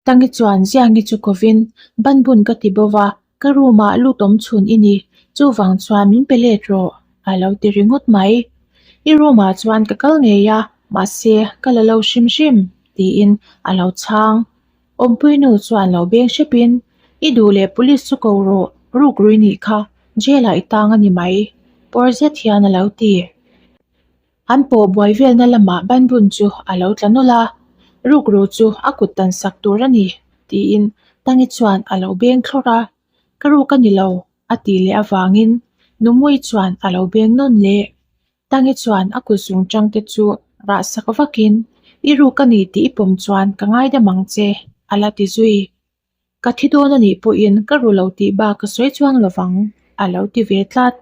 Tangi chuan Ziangi chu kovin, Ban bun ka ti bova, ka room ah lut awm chhun i ni, chuvang chuan min pe let rawh, a lo ti ringawt mai. I room ah chuan ka kal ngei a, mahse ka la lo hrim hrim, tiin a lo chhang. Awmpuinu chuan lo beng hrepin, I duh leh police chu ko rawh, ruk rui nih kha jail ah i tang a ni mai, pawr zet hian a lo ti. An pawh buai velna lamah banbun chu a lo tla nawlh a, ruk ru chu a kut tan sak tur a ni, tiin Tangi chuan a lo beng thlawrh a. Ka ruk a ni lo, a ti leh avangin Numui chuan a lo beng nawn leh. Tangi chuan a kut zung tangte chu rahsak vakin, I ru ka ni tih i pawm chuan ka ngaidam ang che, a la ti zui. Ka thi dawn a nih pawhin ka ru lo tih bak ka sawi chuang lo vang, a lo ti ve tlat.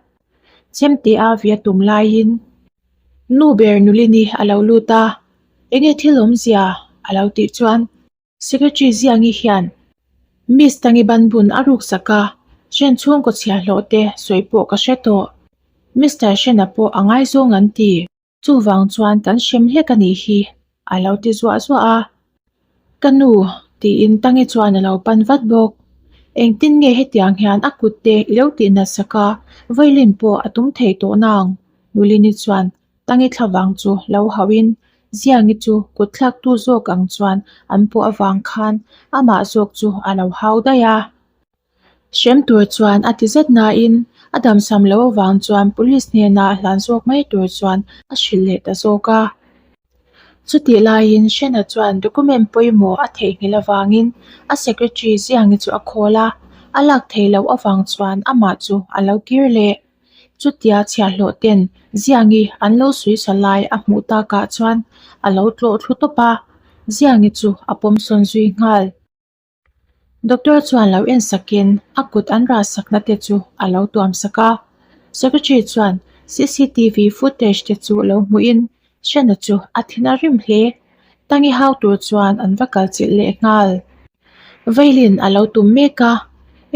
Chem te a via tum laiin, Nu ber Nulini a lo lut a, Enge thil awmzia? a lo tih chuan. Secretary Ziangi hian Miss Tangibanbun a ruksak a, Hren chhung ka chhiah hlawh te, sawi pawh ka hre tawh. Mister Hrena pawh a ngai zawng an ti. Chuvang chuan kan hrem hlek a nih hi, a lo ti zuah zuah a. Ka nu, tiin Tangi chuan a lo pan vat bawk. Engtin nge hetiang hian a kut te i lo tih nasa ka, violin pawh a tum thei tawhna ang. Nulini chuan Tangi thla vang chu lo hauh in Ziangi chu kut thlak tu zawk ang chuan an pawh avang khan amah zawk chu a lo hau daih a. Hrem tur chuan a ti zet nain a damsam lo avang chuan Police hnena a hlan zawk mai tur chuan a hrilh leh ta zawk a. Chutih laiin Shena chuan document pawimawh a theihnghilh avangin a secretary Ziangi chu a call a, a lak thei loh avang chuan amah chu a lo kir leh. Chutia chhiahhlawh ten Ziangi an lo suisa lai a hmuh takah chuan a lo tlawh thlu tawp a, Ziangi chu a pawmsawn zui nghal. Doctor chuan lo en sakin a kut an rah sakna te chu a lo tuam sak a. Secretary chuan cctv footage te chu lo hmuhin Hriana chu a thin a rim hle. Tangi hau tur chuan an va kal chilh leh nghal. Vailen a lo tum mek a,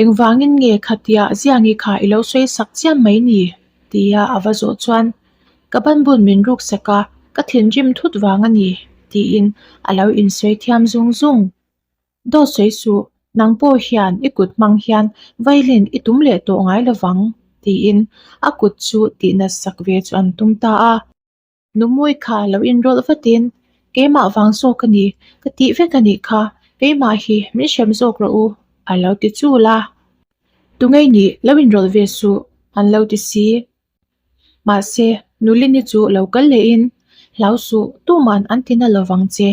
Engvangin nge khatia Ziangi kha i lo sawi sak chiam mai ni? tia a va zawh chuan, Ka banbun min ruksak a, ka thinrim thut vang a ni, tiin a lo insawi thiam zung zung. Daw sawi suh, nang pawh hian i kut hmang hian vailen i tum leh tawh ngai lovang, tiin a kut chu tihnasak ve chu an tum ta a. Numawi kha lo inrawlh vatin, Keimah vang zawk a ni ka tih vek a nih kha, keimah hi min hrem zawk rawh u a lo ti chul a, Tungei nih lo inrawlh ve suh an lo ti si. Mahse, Nu Lini chu lo kal leh in, Hlau suh, tuman an ti na lo vang che,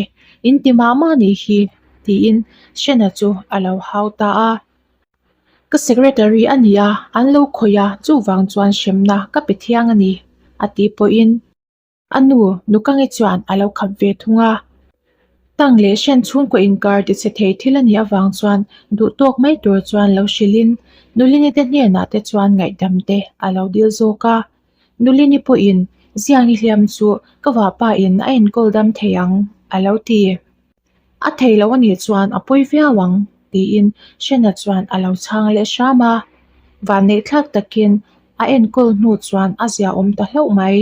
in ti mah mah ni hi, tiin Shena chu a lo hau ta a. Ka secretary a nia, an lo khawih a, chuvang chuan hremna ka pe thiang a ni, a tih pawhin. A nu, Nukangi chuan a lo khap ve thung a, tang leh hrian chhung kua inkar ti che thei thil a nih avang chuan duhtawk mai tur chuan lo hrilhin Nulini te hnenah te chuan ngaihdam te a lo dil zawk a. Nulini pawhin, Ziangi hliam chu ka vapa in a enkawl dam thei ang, a lo ti. A thei loh anih chuan a pawi viau ang tiin Shena chuan a lo chhang leh hram a, vannei thlak takin a enkawl hnu chuan a zia awm ta hlauh mai.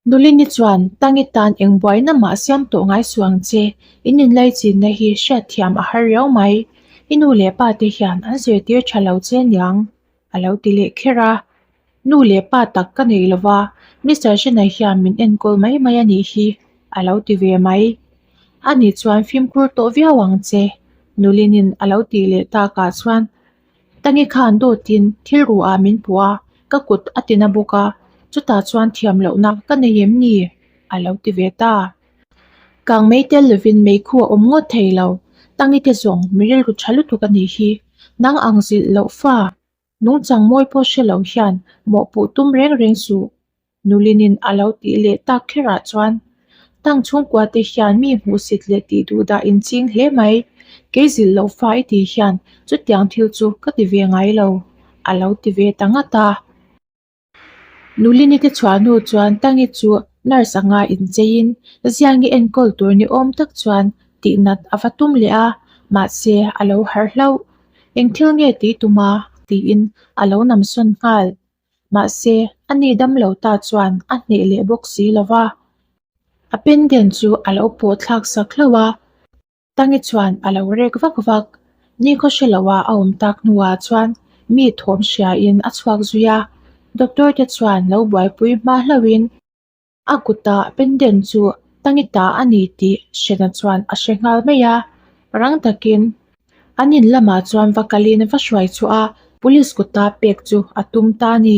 Nulini chuan Tangi tan engbuaina mah siam tawh ngai suh ang che, in inlai chinna hi hriat thiam a har riau mai, i nu leh pa te hian an zirtir tha lo che niang. A lo ti leh kher a, Nu leh pa tak ka nei lo va, Mister Shenna hian min enkawl mai mai a nih hi, a lo ti ve mai. A ni chuan fimkhur tawh viau ang che, Nuli'n a lo tih leh takah chuan Tangi khan dawtin thil ru ah min puh a, ka kut a ti na bawk a, chutah chuan thiam lohna ka nei em ni? a lo ti ve ta. Kang mei tel lovin mei khu a awm ngawt thei lo. Tangi te zawng mi rilru tha lutuk a nih hi. Nang ang zilh loh fa. Nung changmawi pawh hre lo hian mawhpuh tum reng reng suh, Nulinin a lo tih leh tak kherah chuan Tang chhungkua te hian mi hmuh sit leh tih duh dah in ching hle mai. Kei zilh loh fa i tih hian chutiang thil chu ka ti ve ngai lo, a lo ti ve ta ngat a. Nulini te chhuah hnu chuan Tangi chu nurse anga incheiin Ziangi enkawl tur ni awm tak chuan tihnat a va tum leh a, mahse a lo harh hlauh. Eng thil nge ti tum a? tiin a lo nam sawn nghal. Mahse a ni dam lo ta chuan a hneh leh bawk si lo va, a pendant chu a lo pawhthlak sak hlauh a. Tangi chuan a lo rek vak vak. Nikhaw hre loh a awm tak hnuah chuan mi thawm hriain a chhuak zui a. Doctor te chuan lo buaipui hma hlauhin, A kuta pendant chu Tangi ta a ni tih hrena chuan a hre nghal mai a. Rang takin an in lamah chuan va kalin va hruai chhuah a, Police kuta pek chu a tum ta a ni.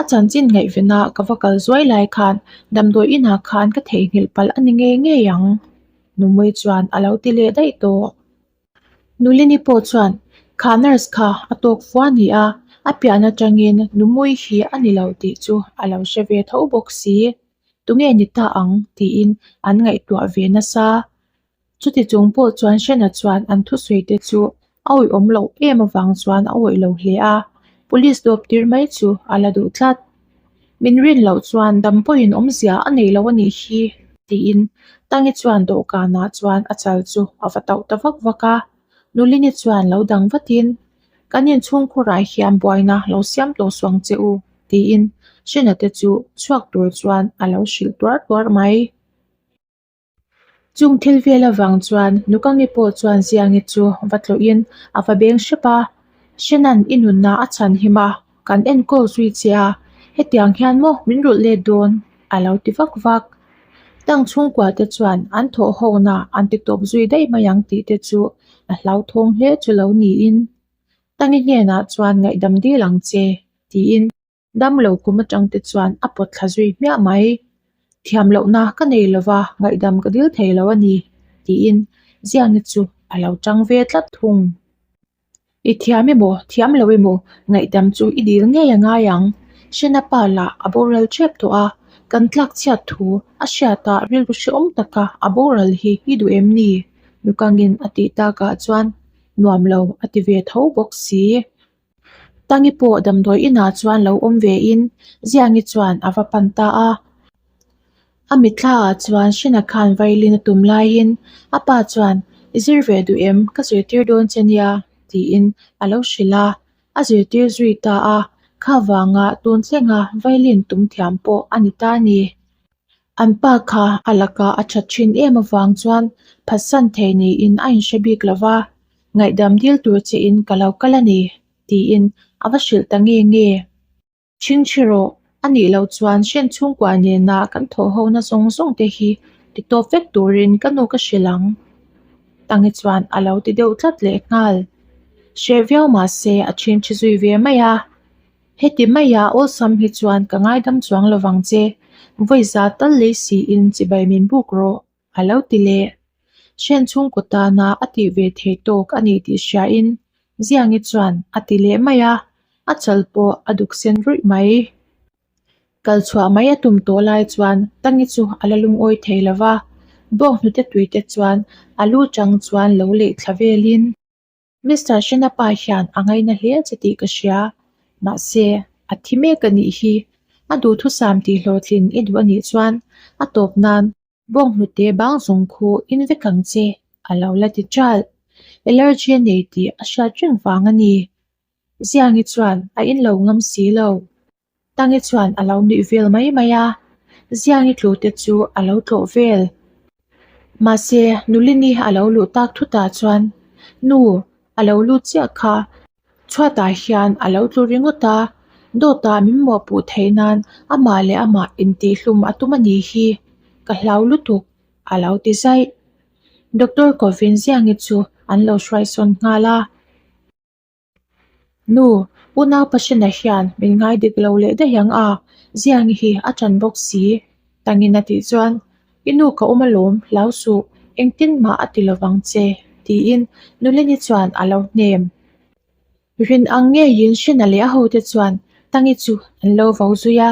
A chanchin ngaihvena ka va kal zuai lai khan damdawi inah khan ka theihnghilh palh a ni ngei ngei ang. Numui chuan a lo ti leh daih tawh. Nulini pawh chuan kha nurse kha a tawk fua a ni a, a pian atangin Numui hi a ni lo tih chu a lo hre ve tho bawk si. Tunge ni ta ang? tiin an ngaihtuah ve nasa Chuti chung pawh chuan Shena chuan an thusawi te chu awihawm loh em avang chuan a awih loh hle a, police dawptir mai chu a la duh tlat. Min rin loh chuan dam pawhin awmzia a nei lo a nih hi tiin Tangi chuan dawhkanah chuan a chal chu a va tauh ta vak vak a. Nulini chuan lo dang vatin, Kan inchhungkhurah hian buaina lo siam tawh suang che u tiin Shena te chu chhuak tur chuan a lo hrilh tuar tuar mai. Chung thil vel avang chuan Nukangi pawh chuan Ziangi chu va tlawhin a va beng hrep a, Shenan i nunna a chhanhim a, kan enkawl zui che a, hetiang hian maw min rulh let dawn? a lo ti vak vak. Tang chhungkua te chuan an thawhhawkna an ti tawp zui daih mai ang tih te chu a hlauthawng hle chu lo niin Tangi hnenah chuan ngaihdam dil ang che tiin. Damlo kum atang te chuan a pawt thla zui hmiah mai. Thiam lohna ka nei lo va, ngaihdam ka dil thei lo a ni, tiin Ziangi chu a lo chang ve tlat thung. I thiam emaw, thiam lo emaw, ngaihdam chu i dil ngei a ngai ang. Shena pa lah a boral tep tawh a, kan tlak chhiat thu a hriata rilru hreawm taka a boral hi i duh em ni? Nukangin a tih takah chuan nuam lo a ti ve tho bawk si. Tangi pawh damdawi inah chuan lo awm ve in Ziangi chuan a va pan ta a. A mitthla ah chuan Shina khan violin a tum laiin a pa chuan I zir ve duh em ka zirtir dawn che nia tiin a lo hrilh a. A zirtir zui ta a kha vanga tun thleng a violin tum thiam pawh a ni ta ni. An pa kha a lakah a that thin em avang chuan phatsan thei niin a inhre bik lo va, ngaihdam dil tur chiin ka lo kal a ni, tiin a va hrilh ta nge nge. Chhingchhe rawh, a nih loh chuan Hrian chhungkua nena kan thawhhona zawng zawng te hi ti tawp vek turin ka nu ka hrilh ang. Tangi chuan a lo ti deuh tlat leh nghal. Hreh viau mahse a chhingchhe zui ve mai a. Heti maia awlsam hi chuan ka ngaidam chuang lo vang che, vawi za tal lei siin chibai min buk rawh, a lo ti leh. Hren chhungkaw tana a tih ve thei tawk a ni tih hriain Ziangi chuan a ti leh mai a, a chal pawh a duk sen ruih mai. Kal chhuah mai a tum tawh lai chuan Tangi chu a la lungawi thei lo va, bawk hnute tuite chuan a lu chang chuan lo leih thla velin. Mister Hrina pa hian a ngaina hle che tih ka hria. Mahse, a thi mek a nih hi. A duhthusam tih hlawhtlin i duh a nih chuan a tawp nan bawng hnute bang zawng khu in vek ang che a lo la ti ṭalh. Allergy a nei tih a hriat reng vang a ni. Ziangi chuan a in lo ngam si lo. Tangi chuan a lo nuih vel mai mai a, Ziangi tlute chu a lo tlawh vel. Mahse, Nulini a lo luh tak thutah chuan, Nu, a lo lut chiah kha. Chhuatah hian a lo tlu ringawt a, Dawta min mawhpuh theih nan amah leh amah intihhlum a tum a nih hi, ka hlau lutuk, a lo ti zai. Doctor kovin Ziangi chu an lo hruaisawn nghal a. Nu, U nau pasina hian min ngai dik lo leh daih ang a, ziah nge hi a tan bawk si? Tangin a tih chuan, I nu ka awm alawm, lau suh, engtin mah a ti lovang che, tiin Nuleni chuan a lo hnem. Rin ang nge Yinshena leh a hote chuan Tangi chu an lo vo zui a,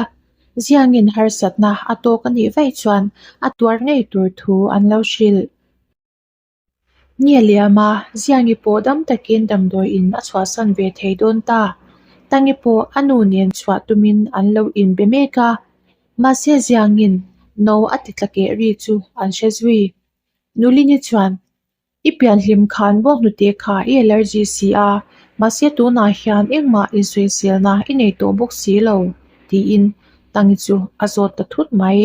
Ziangin harsatna a tawk a nih vaih chuan a tuar ngei tur thu an lo hrilh. Nge liama ziangi pawh dam takin damdawi in a chhuahsan ve thei dawn ta. Tangi pawh a nu nen chhuah tumin an lo in be mek a. Mahse ziangin no a ti tla keh ri chu an hre zui. Nulini chuan, I pian hlim khan bawk hnute kha i allergy si a, mahse tunah hian engmah insawiselna i nei tawh bawk si lo, tiin Tangi chu a zawt ta thut mai.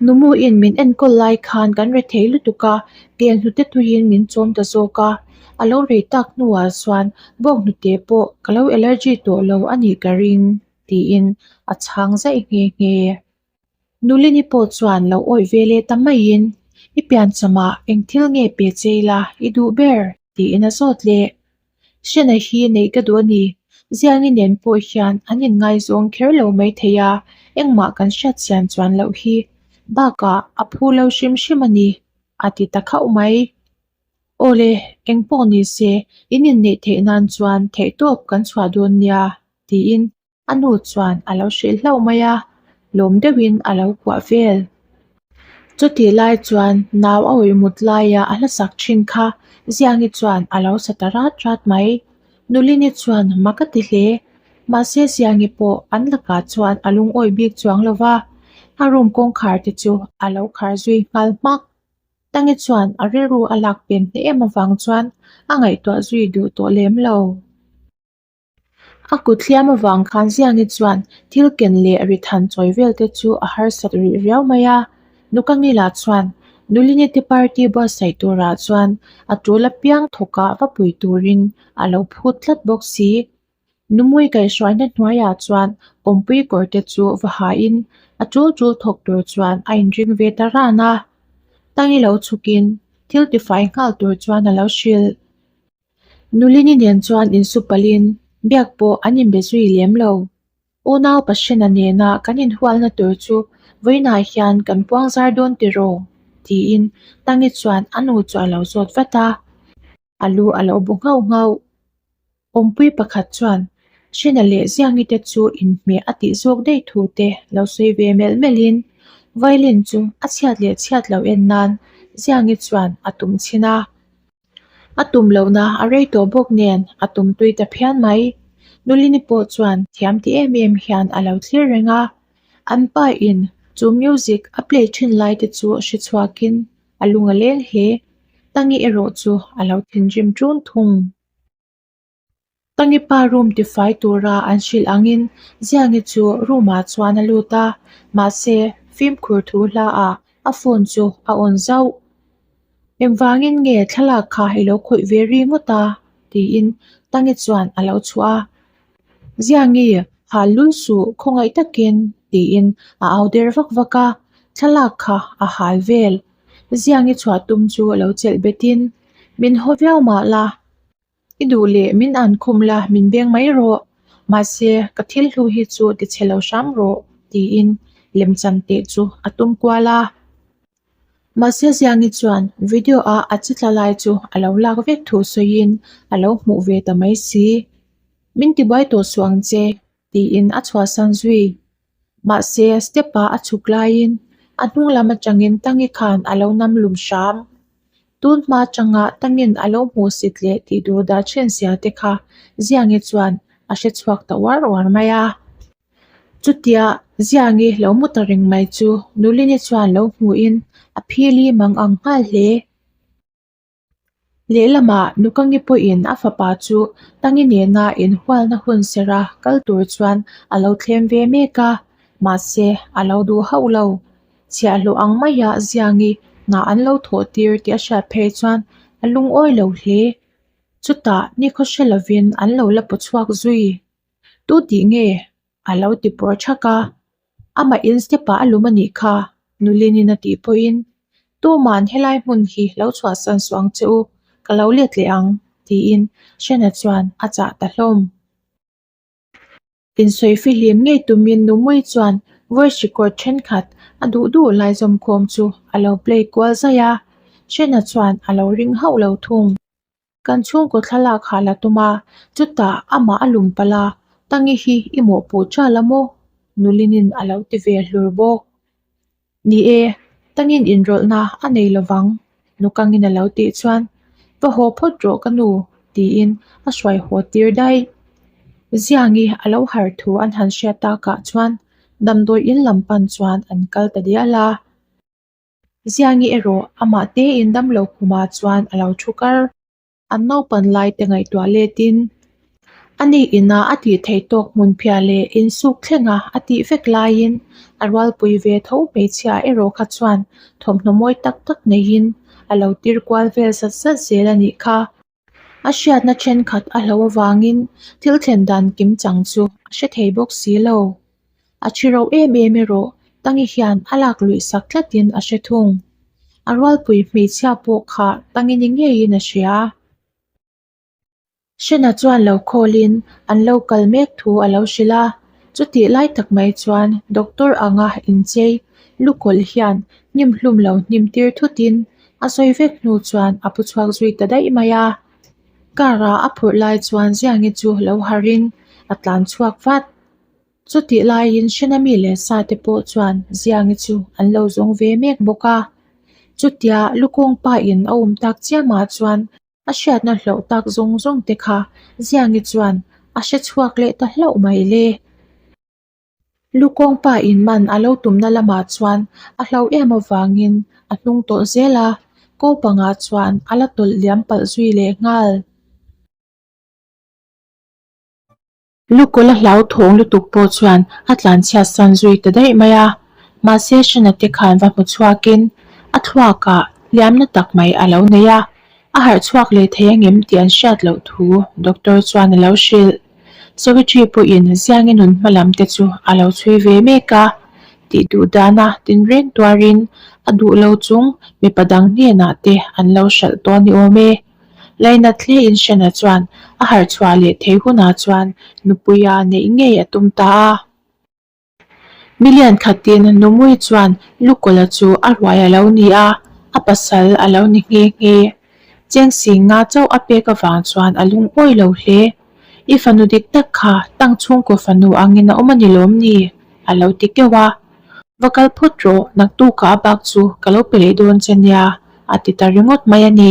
Numuin min enkawl lai khan kan re thei lutuk a, pian hnute tuiin min chawm ta zawk a, a lo rei tak hnuah chuan bawk hnute pawh ka lo allergy tawh lo a nih ka ring tiin a chhang zaih nghe nghe. Nulini pawh chuan lo awih vel e ta maiin i pian chawmah eng thil nge pe che ila i duh ber? tiin a zawt leh. Hriatna hi neih ka duh a ni. Ziangi nen pawh hian an inngaizawng kher lo mai thei a, engmah kan hriat siam chuan loh hi bakah a phu lo hrim hrim a ni, a ti ta khauh mai. Aw le, engpawh ni se, in inneih theih nan chuan theihtawp kan chhuah dawn nia, tiin. A nu chuan a lo hrilh hlauh mai a, lawm deuh in a lo kuah vel. Chutih lai chuan nau a awih mut lai a a hlasak thin kha, Ziangi chuan a lo sa ta rat rat mai. Nulini chuan hma ka ti hle. Mahse Ziangi pawh an lakah chuan a lung awih bik chuang lo va, a room kawngkhar te chu a lo khar zui nghal hmak. Tangi chuan a rilru a lak pen hle em avang chuan a ngaihtuah zui duh tawh lem lo. A kut hliam avang khan Ziangi chuan thil ken leh ri than chawi vel te chu a harsat rih riau mai a. Nu ka ngil ah chuan Nulini te party buatsaih tur ah chuan a tul apiang thawk ah va pui tur in a lo phut tlat bawk si. Nu mui kaihruaina hnuai ah chuan kawmpui kawr te chu va ha in a tul tul thawk tur chuan a in ring ve ta ran a. Tangi lo chhuk in thil tifai nghal tur chuan a lo hrilh. Nulini nen chuan insu palin biak pawh an inbe zui lem lo. Unau Pahriana nena kan inhualna tur chu vawiinah hian kan puangzar dawn tiraw? tiin Tangi chuan a nu chu a lo zawt vat a, a lu a lo bu nghauh nghauh. Awmpui pakhat chuan, Hriana leh Ziangi te chu inhmeh a tih zawk daih thu te lo sawi ve melh melhin violin chu a chhiat leh chhiat lo en nan Ziangi chuan a tum chhin a. A tum lohna a rei tawh bawk nen a tumtui ta phian mai. Nulini pawh chuan thiam ti em em hian a lo thlir reng a. An pa in chu music a play thin lai te chu a hre chhuak in a lung a leng hle. Tangi erawh chu a lo thinrim ṭun thung. Ka nupa room tifai tura an hrilh angin Ziangi chu room ah chuan a lut a, mahse fimkhur thu hla ah a phone chu a on zauh. Engvangin nge thlalak kha i lo khawih ve ri ngawt a? tiin Tangi chuan a lo chhuah a. Ziangi hal lul suh khawngaih takin tiin a au der vak vak a, thlalak kha a hal vel. Ziangi chhuah tum chu a lo chelh betin, Min haw viau mah la. I duh leh min an khum la min beng mai rawh, mahse ka thil hlu hi chu ti chhe lo hram rawh, tiin lemchan teh chu a tum kual a. Mahse Ziangi chuan video ah a chitla lai chu a lo lak vek thu sawiin a lo hmuh ve ta mai si, min tibuai tawh suh ang che, tiin a chhuahsan zui. Mahse, step ah a chhuk laiin a hnung lam atangin Tangi khan a lo nam lum hram. Tun hma changa Tangin a lo hmuh sit leh tih dur dah chen sia te kha Ziangi chuan a hre chhuak ta uar uar mai a. Chutia Ziangi lo mu ta reng mai chu Nulini chuan lo hmuhin a phil hi mang ang nghal hle. Lehlamah Nukangi pawhin a fapa chu Tangi nena inhualna hun sera kal tur chuan a lo thlem ve mek a, mahse a lo duh hauh lo. Chhiahhlawh ang maia Ziangi hna an lo thawh tir tih a hriat phei chuan a lungawi lo hle. Chutah nikhaw hre lovin an lo la pu chhuak zui. Tutihnge? A lo ti pawr ṭhak a, Amah in step ah a lum a nih kha, Nulin in a tih pawhin. Tuma'n helai hmun hi lo chhuahsan suh ang che u, ka lo let leh ang, tiin Shena chuan a chah ta hlawm. Insawi fihlim ngei tumin Numui chuan voice record ṭhenkhat a duh duh lai zawmkhawm chu a lo play kual zai a, Shena chuan a lo ring hauh lo thung. Kan chhungkaw thlalak ha la tum a, chutah amah a lum pal a, Tangi hi i mawhpawh ṭial la maw? Nulinin a lo ti ve hlur bawk. Ni e, Tangin inrawlhna a nei lo vang, Nukangin a lo tih chuan. Va haw phawt rawh ka nu, tiin a hruai haw tir daih. Ziangi a lo har thu an han hriat takah chuan damdawiin lam pan chuan an kal ta dial a. Zia nge erawh amah te in damlo khuma chuan alo thu kar. An naupan laite ngaihtuah letin anih ina a tih theih tawk hmunphia leh insuk thlenga a tih vek laiin a rualpui ve tho hmeichhia erawh kha chuan thawmhnaw mawi tak tak neiin alo tirkual vel zat zat zel anih kha. A hriatna thenkhat a hlo avangin thil thlen dan kim chang chu a hre thei bawk si lo. A thi rauh em em erawh Tangi hian a lak luih sak tlatin a hre thung. A rualpui hmeichhia pawh kha Tangi ni ngeiin a hria. Hrena chuan lo khawlin an lo kal mek thu a lo hrilh a. Chutih lai tak mai chuan doctor anga inchei lu kawlh hian hnim hlum lo hnim tir thutin A sawi vek hnu chuan a pu chhuak zui ta daih mai a, car a a phurh lai chuan Ziangi chu lo harh in a tlan chhuak vat. Chutih lai in Shinami leh Sa te pawh chuan Ziangi chu an lo zawng ve mek bawk a, chutia Lukawng pa in a awm tak chiah mah chuan a hriatna hlauh tak zawng zawng te kha Ziangi chuan a hre chhuak leh ta hlauh mai le. Lu Kawngpa in man a lo tumna lamah chuan a hlauh em avangin a hnung tawh zel a, ko pangah chuan a la tawlh liam palh zui leh nghal. Lu Kawla hlau thawng lutuk pawh chuan a tlan chhiat san zui ta daih mai a, mahse Shana te khan va hmu chhuakin a thluakah hliamna tak mai a lo nei a. A harh chhuak leh thei angem tih an hriat loh thu Doctor chuan a lo hrilh. Secretary pawhin Ziangi nun hma lam te chu a lo chhui ve mek a, tih duh dan a tin reng tuarin a duh lo chung mipa dang hnenah te an lo hralh tawh ni awm e. Laina tle in hrena chuan a harh chhuah leh thei hunah chuan nupui a neih ngei a tum ta a. Mi lian khatin Numui chuan Lukola chu a hruai a lo ni a, a pasal a lo ni nghe nghe. Chengsing nga chauh a pek avang chuan a lung awi lo hle. I fanu dik tak kha tang chhungkaw fanu angin a awm a ni lawm ni? a lo ti keuh a. Va kal phawt rawh, naktukah a bak chu ka lo pe leh dawn che nia, a ti ta ringawt mai a ni.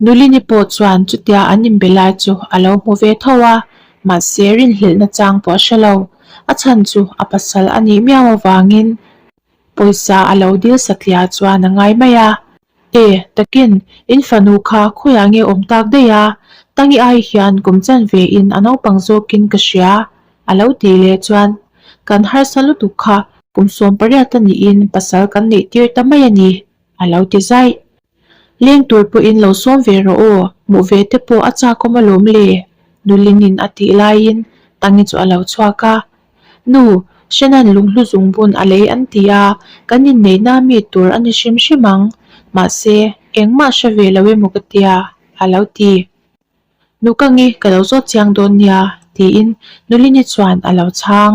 Nulini pawh chuan chutia an inbe lai chu a lo hmu ve tho a, mahse rinhlelhna chang pawh a hre lo. A chhan chu a pasal a nih miau avangin pawisa a lo dil satliah chuan a ngai mai a, E, takin in fanu kha khawiah nge awm tak daih a, Tangi ai hian kum chan ve in a naupang zawkin ka hria a lo tih leh chuan kan harsa lutuk kha kum sawm pariat a niin pasal kan neih tir ta mai a ni a lo ti zaih. Leng tur pawhin lo sawm ve rawh aw, hmuh ve te pawh a chakawm a lawm le, Nulining a tih laiin Tangi chu a lo chhuak a. Nu, Hrenan lung hlu zung bun a lei an ti a, kan inneihna mi tur a ni hrim hrim ang, mahse, engmah hre ve lo emaw ka tia? a lo ti. Nu ka nge ka lo zawt chiang dawn nia, tiin Nulini chuan a lo chhang.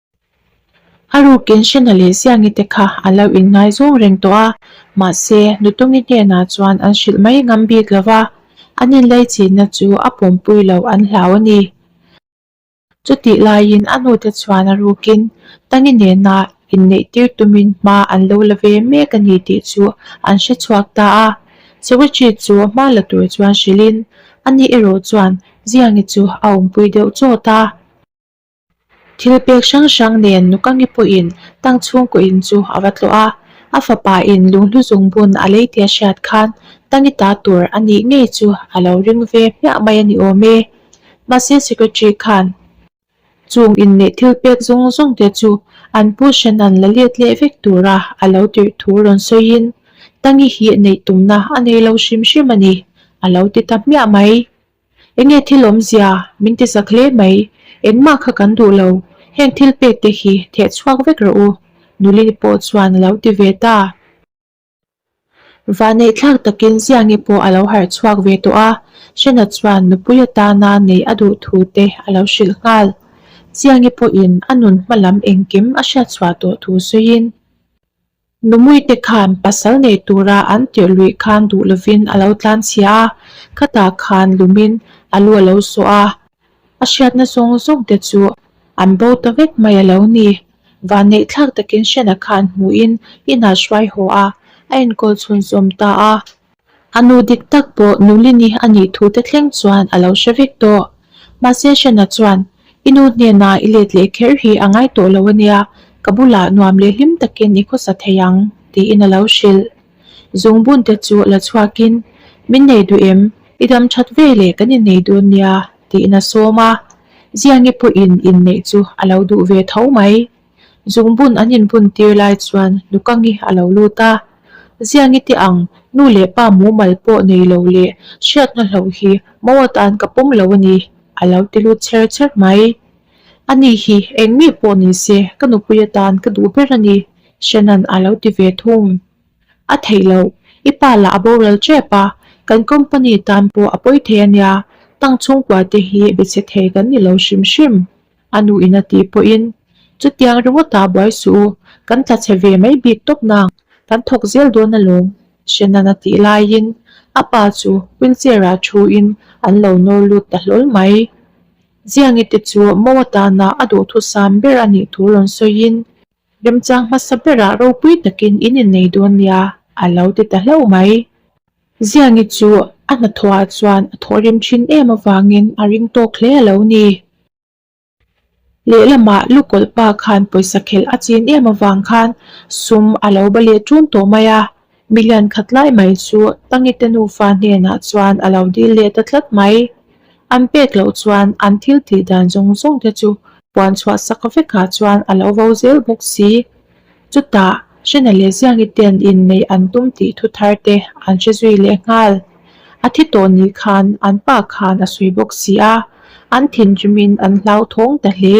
A rukin Shena leh Ziangi te kha a lo in ngaizawng reng tawh a, mahse Nutungi hnenah chuan an hrilh mai ngam bik lo va, an inlei chinna chu a pawmpui lo an hlau a ni. Chutih laiin a nute chuan a rukin Tangi nena inneih tir tumin hma an lo la ve mek a ni tih chu an hre chhuak ta a, Sewitchi chu a hma la tur chuan hrilhin, A nih erawh chuan Ziangi chu a awmpui deuh chawt a, Thil pek hrang hrang nen nu ka nge pawhin tang chhungkaw in chu a va tlawh a, a fapa in lunghlu zung bun a lei tia hriat khan tangi ta tur a nih ngei chu a lo ring ve hmiah mai a ni awm e. Mahse secretary khan chung in leh thil pek zawng zawng te chu an pu Shannan la let leh vek tura a lo tirh thu rawn sawi in, Tangi hi neih tumna a nei lo hrim hrim a ni, a lo ti ta hmiah mai. Enge thil awmzia min tisa hle mai, engmah kha kan duh lo, heng thil pek te hi theh chhuak vek rawh u, Nulini pawh chuan a lo ti ve ta. Vaneihthlak takin Ziangi pawh a lo harh chhuak ve tawh a, Shena chuan nupui atana nei a duh thu te a lo hrilh nghal. Ziangi pawhin a nun hma lam engkim a hriat chhuah tawh thu sawiin, Numuite khan pasal nei tura an tirh luih khan duh lovin a lo tlan chhia a, khatah khan lumin a lu a lo sawh a, a hriatna zawng zawk te chu an bo ta vek mai a lo ni. Vannei thlak takin Shena khan hmuhin inah hruai haw a, a inkawl chhun sawm ta a, A nu dik tak pawh Nulini a nih thu te thleng chuan a lo hre vek tawh. Mahse Shena chuan, I nu hnenah i let leh kher hi a ngai tawh lo a nia, ka bulah nuam leh hlim takin i khawsa thei ang, tiin a lo hrilh. Zungbunte chu a la chhuakin, Min nei duh em? I dam that ve le kan innei dawn nia, tiin a sawm a. Ziangi pawhin inneih chu a lo duh ve tho mai. Zungbun an inbun tir lai chuan Nukangi a lo lut a, Ziang i tih ang, nu leh pa mumal pawh nei lo leh hriatna hlauh hi mau atan ka pawm lo a ni, a lo ti lut chher chher mai. A ni hi eng mi pawh ni se ka nupui atan ka duh ber a ni, Shannon a lo ti ve thung. A theih loh, i pa lah a boral tep a, kan company tan pawh a pawi thei a nia, tang chhungkua te hi be che thei kan ni lo hrim hrim. A nu ina tih pawhin, Chutiang ringawtah buai suh u, kan tla chhe ve mai bik tawpna ang, kan thawk zel dawn alawm, Shennan a tih laiin a pa chu wheelchair-ah thuin an lo nawr lut ta hlawl mai. Ziangite chu Mawatahnah a duhthusam ber a nih tur rawn sawiin, Remchang hmasa berah ropui takin in innei dawn nia a lo ti ta hlauh mai. Ziangi chu a hnathawhah chuan a thawhrem thin em avangin a ring tawk hle a lo ni. Lehlamah Lu Kawlhpa khan pawisa khelh a chin em avang khan sum a lo ba leh tun tawh mai a, Milian khat lai mai chu Tangite nufa hnenah chuan a lo dil leh ta tlat mai. An pek loh chuan an thil tih dan zawng zawng te chu puan chhuah sak vekah chuan a lo vo zel bawk si. Chutah, Hrena leh Ziangite'n inneih an tum tih thu thar te an hre zui leh nghal. A thi tawh ni khan an pa khan a sawi bawk si a, an thinrim in an hlau thawng ta hle.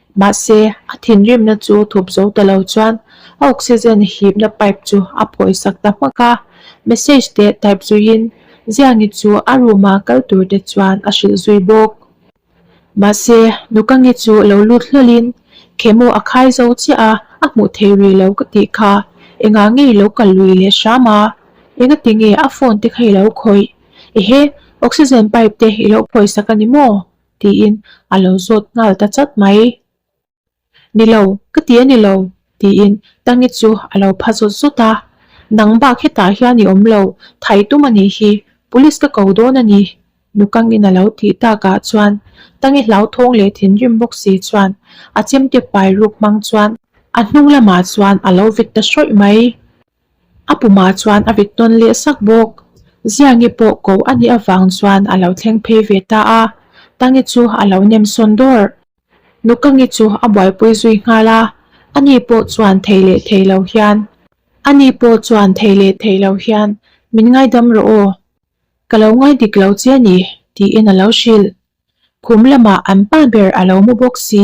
Mahse, a thinrimna chu thup zo ta lo chuan a oxygen hipna pipe chu a phawisak ta hmak a. Message te type zuiin Ziangi chu a room-a kal turte chuan a hrilh zui bawk. Mahse, Nukangi chu lo lut hlahlin Khemu a khai zo chiah a, a hmuh theih rih lo ka tih kha engah nge i lo kal lui leh hram a, enga ti nge a phone te kha i lo khawih? Ehe, oxygen pipe te i lo phawisak a ni maw? Tiin a lo zawt nghal ta chat mai. Ni lo, ka ti a ni lo, tiin Tangi chu a lo pha zawt zawt a. Nang bak hetah hian i awm lo, thai tum a nih hi, Police ka ko dawn a ni, Nukangin a lo tih takah chuan Tangi hlauthawng leh thinrim bawk si chuan a chemte pai ruk hmang chuan a hnung lamah chuan a lo vek ta hrawih mai. A pumah chuan a vik tawn leh sak bawk. Ziangi pawh ko a nih avang chuan a lo thleng phei ve ta a, Tangi chu a lo nem sawn dawrh. Nukangi chu a buaipui zui nghal a, ani pawh chuan thei leh thei lo hian, ani pawh chuan thei leh thei lo hian min ngaidam rawh aw, ka lo ngai dik lo che a ni, tiin a lo hrilh. Khum lamah an pa ber a lo mu bawk si.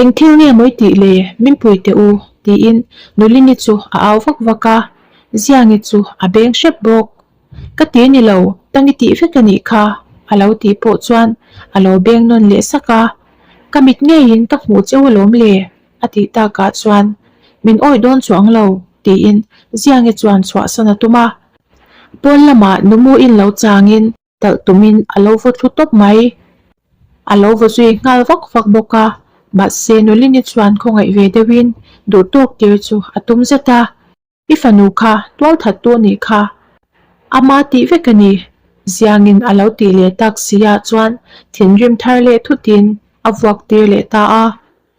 Eng thil nge mawi tih le, min pui teh u, tiin Nulini chu a au vak vak a, Ziangi chu a beng hrep bawk. Ka ti ni lo, tangi tih vek a nih kha, a lo tih pawh chuan a lo beng nawn leh sak a, ka mit ngeiin ka hmuh cheu alawm le, a tih takah chuan min awih dawn chu ang lo, tiin Ziangi chuan chhuahsan a tum a, Pawl lamah Numuin lo changin. talh tumin a lo va thlu tawp mai, a lo va zui nghal vak vak bawk a, mahse Nolini chuan khawngaih ve deuhin duhtawk tir chu a tum zet a, I fanu kha tual that tu a nih kha, a ma tih vek a ni, Ziangin a lo tih leh tak si ah chuan thinrim thar leh thutin a vuak tir leh ta a,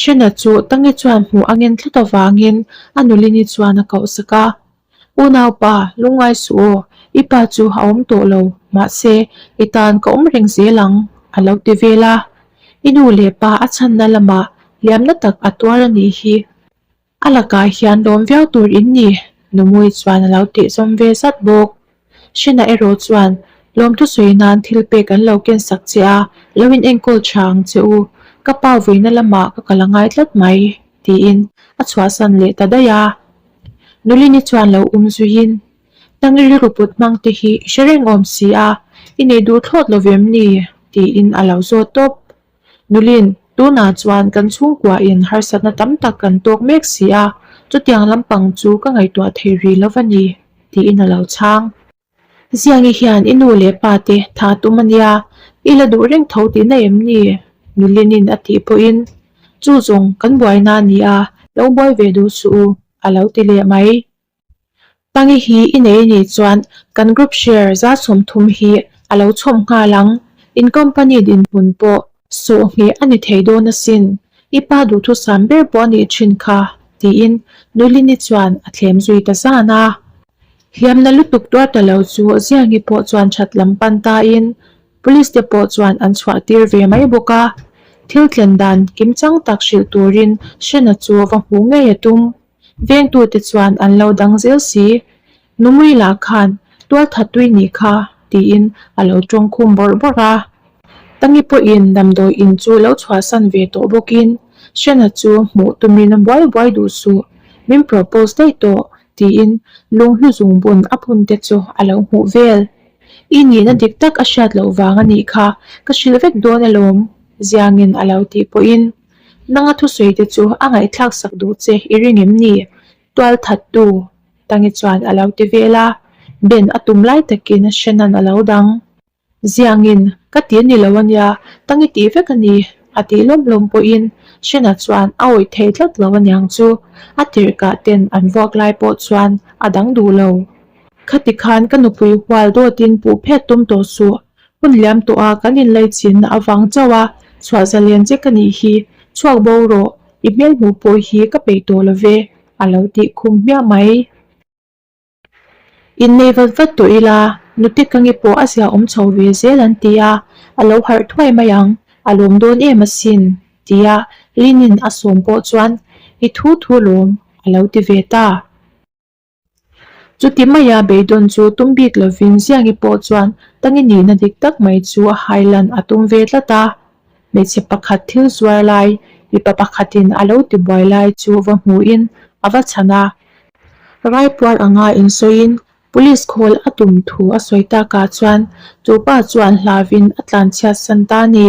Shena chu Tangi chuan hmuh a ngen tlat avangin a nulini chuan a kohsak a, U naupa, lungngai suh aw, i pa chu a awm tawh lo, mahse, i tan ka awm reng zel ang, a lo ti vel a. I nu leh pa a chhanna lamah hliamna tak a tuar a nih hi. A lakah hian lawm viau tur in ni? Numui chuan a lo tihzawm ve zat bawk. Shina erawh chuan lawm thusawi nan thilpek an lo kensak che a, lo in enkawl tha ang che u, ka pa vawiina lamah ka kal a ngai tlat mai, tiin a chhuahsan leh ta daih a. Nulini chuan lo um zuiin, Tang i rilru put hmang te hi i hre reng awm si a, i nei duh thlawt lovem ni? tiin a lo zawt tawp. Nulin, Tunah chuan kan chhungkuahin harsatna tam tak kan tawk mek si a, chutiang lampang chu ka ngaihtuah thei ri lo va ni, tiin a lo chhang. Ziangi hian i nu leh pa te tha tum a nia, i la duh reng tho tih na em ni? Nulinin a tih pawhin, Chu zawng kan buaina a ni a, lo buai ve duh suh u, a lo ti leh mai. Tangi hi i nei ni chuan kan group share za sawm thum hi a lo chhawp nghal ang, in company dinhmun pawh sawhngeh a ni thei dawn asin, i pa duhthusam ber pawh a nih thin kha, tiin Nuilini chuan a thlem zui ta zan a. Hliamna lutuk tuar ta lo chu Ziangi pawh chuan that lam pan tain Police te pawh chuan an chhuah tir ve mai bawk a, thil tlen dan kim chang tak hrilh turin Shena chu va hmu ngei a tum. Vengtute chuan an lo dang zel si, Numui lah khan tual that tui ni kha tiin a lo tawng khum bawrh bawrh a. Tangi pawhin damdawi in chu lo chhuahsan ve tawh bawkin Shena chu hmuh tumin buai buai duh suh, min propose daih tawh tiin lung hluzung bun a pun te chu a lo hmuh vel. I nihna dik tak a hriat loh vang a nih kha, ka hrilh vek dawn alawm, Ziangin a lo tih pawhin. Nanga thusawiite chu a ngaihthlak sak duh che, i ring em ni? Tual thattu Tangi chuan a lo ti vel a, Ben a tum lai takin Shannon a lo dang. Ziangin? Ka ti ni lo a nia, Tangi tih vek a ni, a ti lawm lawm pawhin Shannon chuan a awih thei tlat lo a niang chu. A tirhkah ten an vuak lai pawh chuan a dang duh lo. Khati khan ka nupui hual dawtin puh phet tum tawh suh. Hun liam tawh a, kan inlei chin a vang chauh a, chhuah za lian che ka nih hi, chhuak bo rawh, i hmel hmuh pawh hi ka peih tawh lo ve, a lo tih khum hmiah mai. In nei vat vat tawh ila, nute ka nge pawh a zia awm chho ve zel an ti a, a lo harh thuai mai ang, a lawm dawn em asin, ti a Lin-in a sawm pawh chuan i thu thu lawm, a lo ti ve ta. Chuti mai a beidawn chu tum bik lovin Ziangi pawh chuan tangi nihna dik tak mai chu a hailan a tum ve tlat a. Hmeichhe pakhat thil zuar lai, mipa pakhatin a lo ti buai lai chu va hmuhin a va chhan a. Raipuar anga in sawiin Police call a tum thu a sawi takah chuan chu pa chuan hlavin a tlanchhiatsan ta a ni.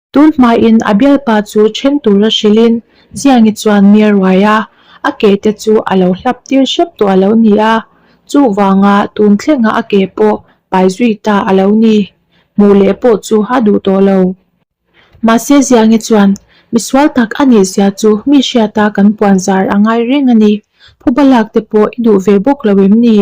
Tun hmain a bialpa chu then tura hrilhin Ziangi chuan miar uai a, a ke te chu a lo hlap tir hrep tawh a lo ni a, chuvanga tun thlengah a ke pawh pai zui ta a lo ni, hmuh leh pawh chu a duh tawh lo. Mahse Ziangi chuan, Misual tak a ni sia chu mi hriata kan puan zar a ngai reng a ni, phubalak te pawh i duh ve bawk lo em ni?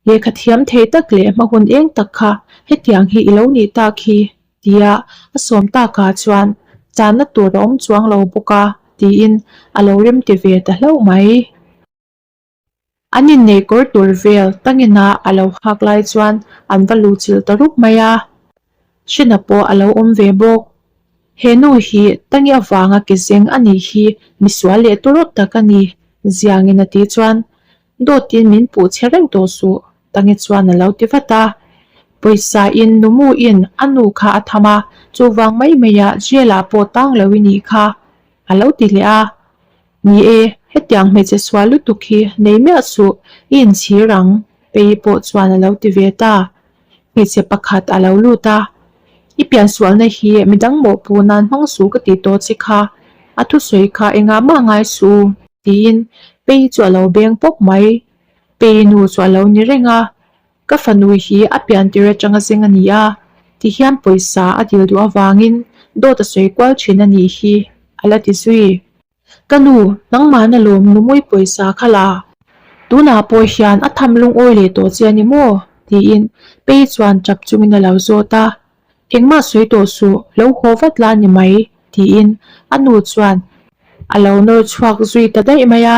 Lehkha thiam thei tak leh hmahun eng tak kha hetiang hi i lo nih tak hi, tia a sawm takah chuan channa tur a awm chuang lo bawk a, tiin a lo rem ti ve ta hlauh mai. An inneih kawr tur vel tanginah a lo hak lai chuan an va luhchilh ta rup mai a. Hrinna pawh a lo awm ve bawk. He nu hi Tangi avanga ke zeng a nih hi, misual leh tu rawt tak a ni. Ziangin a ti chuan, Dawtin min puh che reuh tawh suh. Tangi chuan a lo ti vat a, Pawisa-in Numuin a nu kha a tham a, chuvang mai maiah jail-ah pawh tang lo i nih kha, a lo ti leh a. Ni e, hetiang hmeichhe sual lutuk hi nei miah suh, i inchhir ang, Pei pawh chuan a lo ti ve ta. Hmeichhe pakhat a lo lut a, I pian sualna hi midang mawhpu nan hmang suh ka ti tawh che kha, a thusawi kha engah mah ngai suh u, tiin Pei chu a lo beng pawp mai. Pei nu chu a lo ni reng a, Ka fanu hi a pian tir atanga zeng a ni a, ti hian pawisa a dil duh avangin dawt a sawi kual thin a nih hi a la ti zui. Ka nu, nangmahna lawm numuii pawisa kha la. Tunah pawh hian a tham lungawi leh tawh che a ni maw? tiin Pei chuan tap chungin a lo zawt a. Engmah sawi tawh suh, lo haw vat la a ni mai, tiin a nu chuan a lo nawr chhuak zui ta daih mai a.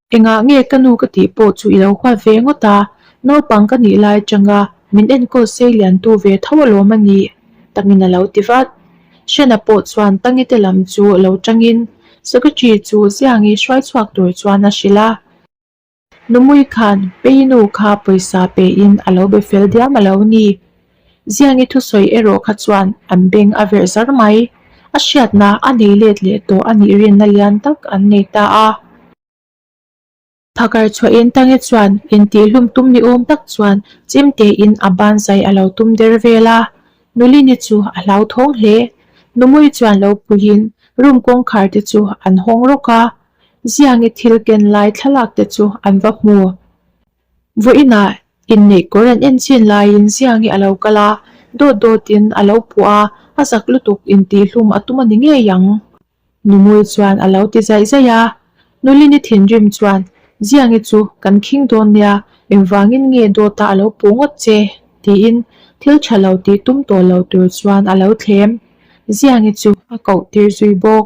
Engah nge ka nu ka tih pawh chu i lo huat ve ngawt a, naupang ka nih lai changa min enkawl sei lian tu ve tho alawm a ni, Tangin a lo ti vat. Shena pawh chuan Tangi te lam chu lo changin, Secretary chu Ziang i hruai chhuak tur chuan a hrilh a, Numui khan Peinu kha pawisa pe in a lo be fel diam a lo ni, Ziangi thusawi erawh kha chuan an beng a verh zar mai. A hriatna a nei let leh tawh a nih rinna lian tak an nei ta a. Phakar chhuahin Tangi chuan intihhlum tum ni awm tak chuan chim tein a banzai a lo tum der vel a, Nulini chu a hlauthawng hle. Numui chuan lo puiin room kawngkhar te chu an hawng rawk a. Ziangi thil ken lai thlalak te chu an va hmu. Vawiinah inneihkawr an en chin laiin Siang hi a lo kal a, dawt dawtin a lo phuah a, a zak lutuk intihhlum a tum a ni ngei ang. Numui chuan a lo ti zaih zaih a, Nulini thinrim chuan, Ziangi chu kan khing dawn nia, engvangin nge dawta a lo puh ngawt che? tiin thil tha lo tih tum tawh lo tur chuan a lo thlem. Ziangi chu a koh tir zui bawk.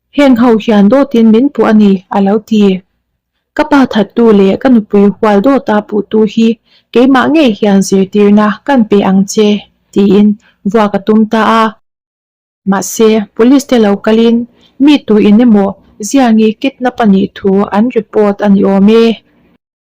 Heng ho hian dawtin min puh a ni, a lo ti. Ka pa thattu leh ka nupui hual dawta puhtu hi keimah ngei hian zirtirna kan pe ang che, tiin vuak a tum ta a. Mahse, police te lo kalin mi tuin emaw ziangi kidnap a nih thu an report a ni awm e.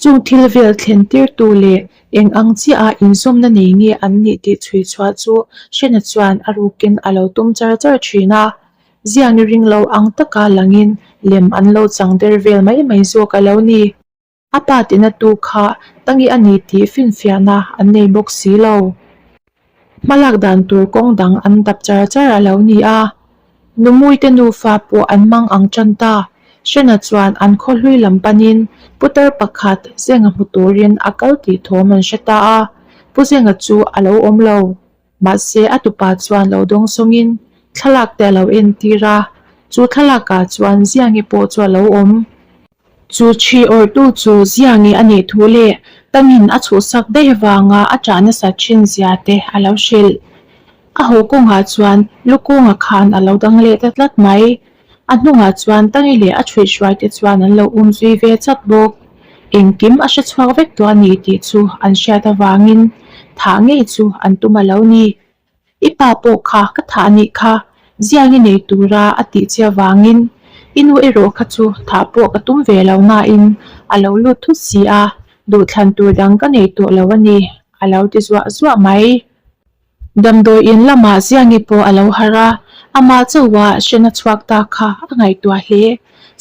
Chung thilvel thlentirtu leh eng ang chiaha inzawmna nei nge an nih tih chhui chhuah chu Shena chuan a rukin a lo tum char char thin a. Zian i ring lo ang taka langin lem an lo chang der vel mai mai zawk a lo ni. A pa tinatu kha Tangi a ni tih finfiahna an nei bawk si lo. Hmalak dan tur kawng dang an dap char char a lo ni a, Numui te nufa pawh an mang ang tan ta. Hrena chuan an khaw hlui lam panin Putar pakhat Zenga hmu turin a kal tih thawm an hre ta a, Pu Zenga chu a lo awm lo. Mahse a tupa chuan lo dawng sawngin thlalak te a lo entir a, chu thlalakah chuan Ziangi pawh chu a lo awm. Chu thi awrhtu chu zia nge a nih thu le, tangin a chhuhsak daih vanga a tah nasa thin zia te a lo hrilh. A haw kawngah chuan lukunga khan a lo dang leh ta tlat mai. A hnungah chuan tangi leh a thruih hruai te chuan an lo um zui ve chawt bawk. Engkim a hre chhuak vek tawh a ni tih chu an hriat avangin thah ngei chu an tum a lo ni. I pa pawh kha ka thah a nih kha, Ziang i nei tura a tih chiah vangin i nu erawh kha chu thah pawh ka tum ve lo nain a lo lut thut si a, duhthlan tur dang ka nei tawh lo a ni, a lo ti zuah zuah mai. Damdawi in lamah Ziangi pawh a lo har a, amah chauha hrian a chhuak ta kha a ngaihtuah hle.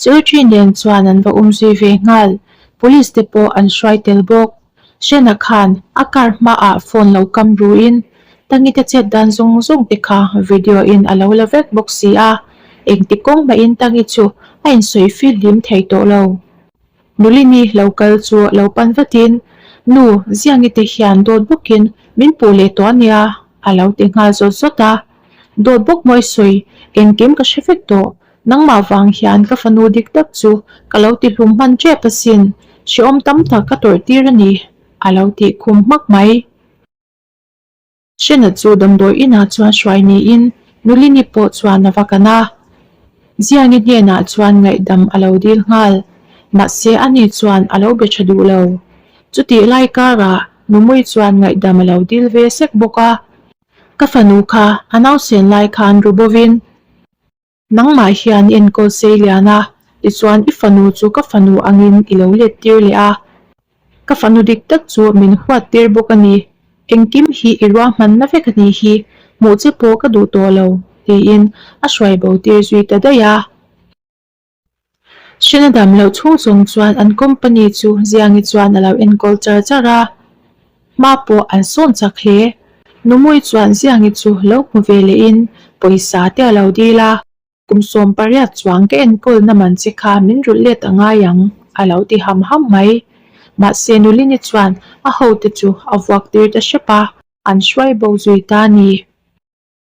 Secretary nen chuan an va um zui ve nghal, Police te pawh an hruai tel bawk. Shena khan a car hma ah phone lo kam ru in Tangi te chet dan zung zung te kha video in alo la vek bawk si a, engti kawng mah in Tangi chu a in sawi feel hlim thei tawh lo. Nulini lo kal chu lo pan vat in, Nu, Ziangi te hian dawt bawk in min puh leh tawh ania alo ti nghal zawt zawt a, dawt bawk maw i sawi, engkim ka hre vek tawh. Nangmah vang hian ka fanu dik tak chu ka lo ti hlum hman tep asin, hreawm tam tak ka tawrh tir a ni, a lo ti khum hmak mai. Shena chu damdawi inah chuan hruai niin Nulini pawh chuan a va kan a, Ziangi hnenah chuan ngaihdam a lo dil nghal, mahse a ni chuan a lo be tha duh lo. Chutih lai karah Numui chuan ngaihdam a lo dil ve sek bawk a, ka fanu kha a nausen lai khan ru bawvin Nangmah hian enkawl sei lian a, tichuan i fanu chu ka fanu angin i lo let tir leh a, ka fanu dik tak chu min huat tir bawk a ni. Engkim hi i ruahmanna vek a nih hi, hmuh che pawh ka duh tawh lo, tiin a hruaibo tir zui ta daih a. Hriat a dam loh chhung chhung chuan an company chu Ziangi chuan a lo enkawl char char a, hma pawh an sawn chak hle. Numui chuan Ziangi chu lo hmu ve leh in pawisa te a lo dil a. Kum sawm pariat chuang ka enkawl na man che kha min rulh let a ngai ang a lo ti ham ham mai. Mahse Nulini chuan a ho te chu a vuak tir ta hrep a, an hruai bo zui ta ni.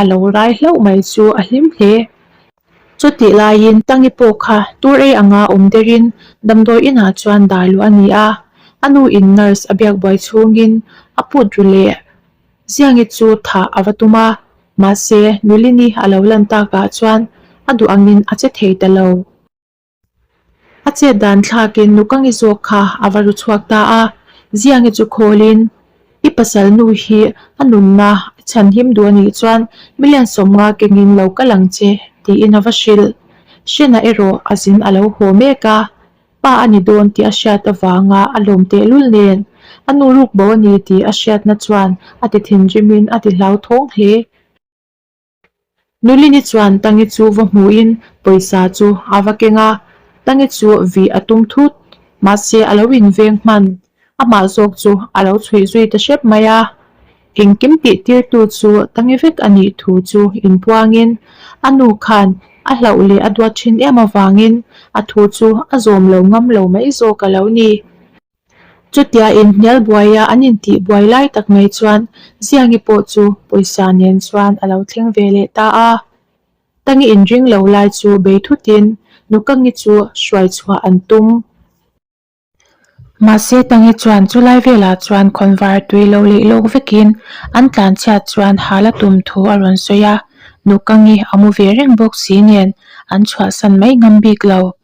a lo rai hlauh mai chu a hlim hle. Chutih laiin Tangi pawh kha tur ei anga awm derin damdawi inah chuan dar luh a ni a, a nu in nurse a biak buai chhungin a put ru leh Ziangi chu thah a va tum a, mahse Nulini a lo lan takah chuan a duh angin a che thei ta lo. A chet dan thlakin Nukangi zawk kha a va ru chhuak ta a, zia nge chu khawlin i pasalnu hi a nunna i chhan him duh a nih chuan milen sawm nga kengin lo kal ang che tiin a va hrilh. Hrena erawh a zin a lo haw mek a, pa a ni dawn tih a hriat avanga a lawm tehlul nen a nu ruk bo a ni tih a hriatna chuan a ti thinrimin a ti hlauthawng hle. Nulini chuan Tangi chu va hmuhin pawisa chu a va keng a, Tangi chu vih a tum thut. Mahse a lo inveng hman, amah zawk chu a lo chhuih zui ta hrep mai a. Engkim tihtirtu chu Tangi vek a nih thu chu inpuangin a nu khan a hlauh leh a duat thin em avangin a thu chu a zawm lo ngam lo mai zawk a lo ni. Chutia inhnialbuaia an intihbuai lai tak mai chuan Ziangi pawh chu pawisa nen chuan a lo thleng ve leh ta a. Tangi in ring lo lai chu bei thutin Nukangi chu hruai chhuah an tum. Mahse Tangi chuan chulai velah chuan khawnvar tui lo leih lawk vekin an tlan chhiat chuan hal a tum thu a rawn sawi a. Nukangi a mu ve reng bawk si nen an chhuahsan mai ngam bik lo.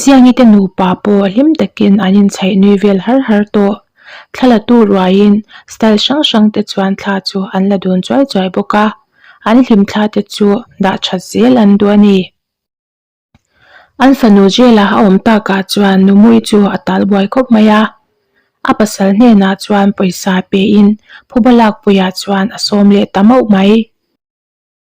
Zianite nupa pawh hlim takin an inchhaih nui vel har har tawh. Thla latu ruaiin style hrang hrangte chuan thla chu an la dun chuai chuai bawk a, an hlimthla te chu dah that zel an duh a ni. An fanu zela a awm takah chuan Numui chu a tal buai khawp mai a, a pasal hnenah chuan pawisa pein phuba lak puiah chuan a sawm leh ta mauh mai.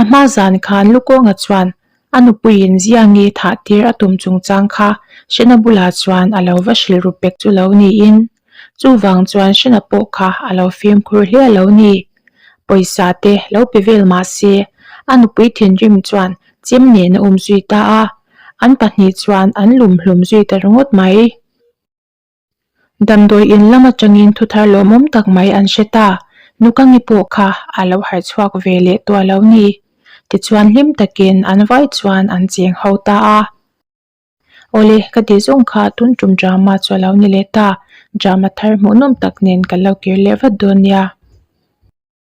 A hma zan khan Lukawnga chuan a nupuiin Ziangi thah tir a tum chungchang kha Hrena bulah chuan a lo va hrilh ru pek chu lo niin, chuvang chuan Hrena pawh kha a lo fimkhur hliah lo ni. Pawisa te lo pe vel mah se, a nupui thinrim chuan chem nen a um zui ta a, an pahnih chuan an lum hlum zui ta ringawt mai. Damdawi in lam atangin thuthar lawmawm tak mai an hre ta. Nukangi pawh kha a lo harh chhuak ve leh tuah lo ni? Tichuan hlim takin an vai chuan an cheng ho ta a. Awle, ka ti zawng kha tun tum drama chu a lo ni leh ta. Drama thar hmuhnawm tak nen ka lo kir leh vat dawn nia.